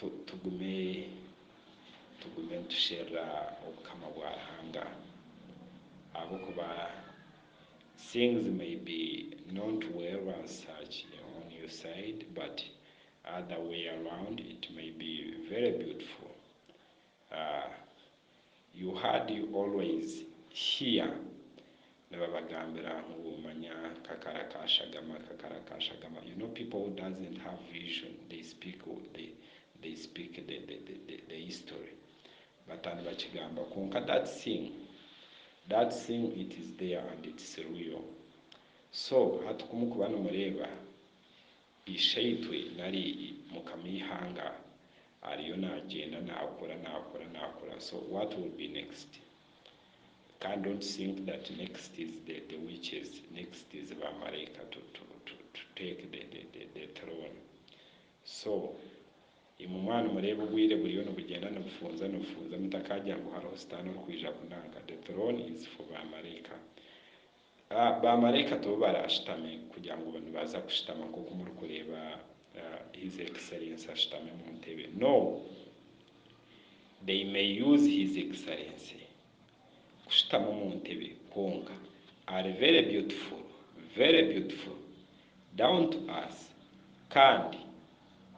Tugume nitusherura Obukama bwa Ruhanga ahabw'okuba things may be not well on such on your side but other way around it may be very beautiful. Aah you had you always hear nibabagambira ngu manya kakara ka shagama kakara ka shagama you know people who doesn't have vision they speak they they speak the the the the history bata nibakigamba kwonka that thing that thing it is there and it's real so hati kumukuba nimureeba Ishaitwe nari mukama eihanga ariyo nagyenda nakura nakura nakura so what will be next kandi don't think that next is the the witches next is ba maraika to to to take the the the the throne so imwe mwaba nimureeba obwiire buriyo nibugyenda nibufunza nibufunza mutakagira ngu hariho sitaane orikwija kunanka the throne is for ba maraika Baamaraika tibo baraashutame kugira ngu nibaza kushutama nk'oku murikureeba His Excellency ashutami omu ntebe. No! They may use His Excellency kushutama omu ntebe kwonka ari very beautiful, very beautiful, down to earth kandi.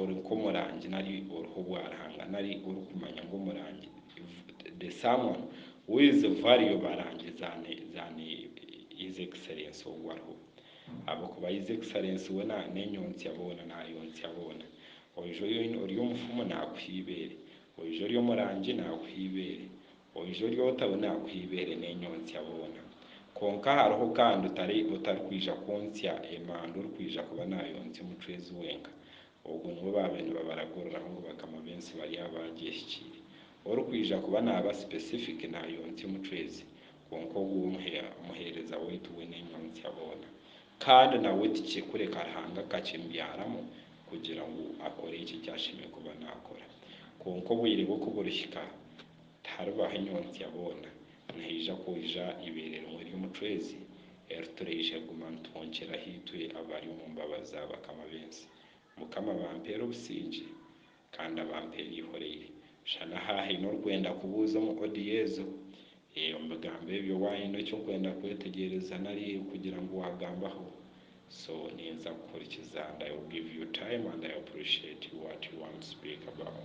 Ori nk'omurangi nari oriho obwarihanga nari orikumanya ngu omurangi the someone who is value barangi than than his excellence ogu ariho ahabw'okuba his excellence we n'enyontsya boona naayontsya boona. Oija ori omufumu naakuha eibeere, oija ori omurangi naakuha eibeere, Oije oryota we naakuha eibeere n'enyontsya boona. Kwonka hariho kandi otari otarikwija kwontsya emanda orikwija kuba naayontsya omucwezi wenka. Ogwo niwe baabaire nibabaraguriraho ngu bakama b'ensi bari abaagyehikire. Orikwija kuba naaba sipesifiki naayontsya omucwezi, kwonka ogwo omuhe omuheereza waitu we n'enyontsya boona. Kandi nawe tikye kureka Ruhanga akakimbyaramu kugira ngu akore ekyo eki ashemereire kuba naakora. Kwonka obwire bwe ku burihika, Tiharibaho enyotsya boona, nihaija kwija ibeere rimwe ry'omucwezi, eri turaija kuguma nitwonkera ahaitwe abari omu mbabazi za bakama b'ensi. Mukama abampeere obusingye kandi abampeere eihoreire. Shana aha haine orikwenda kubuuza omu audio ezo. Ee, omu bigambo ebyo waayine eki orikwenda kwetegyereza nari kugira ngu waagambaho, so ninza kukuhurikiza and I will give you time and I appreciate what you want to speak about.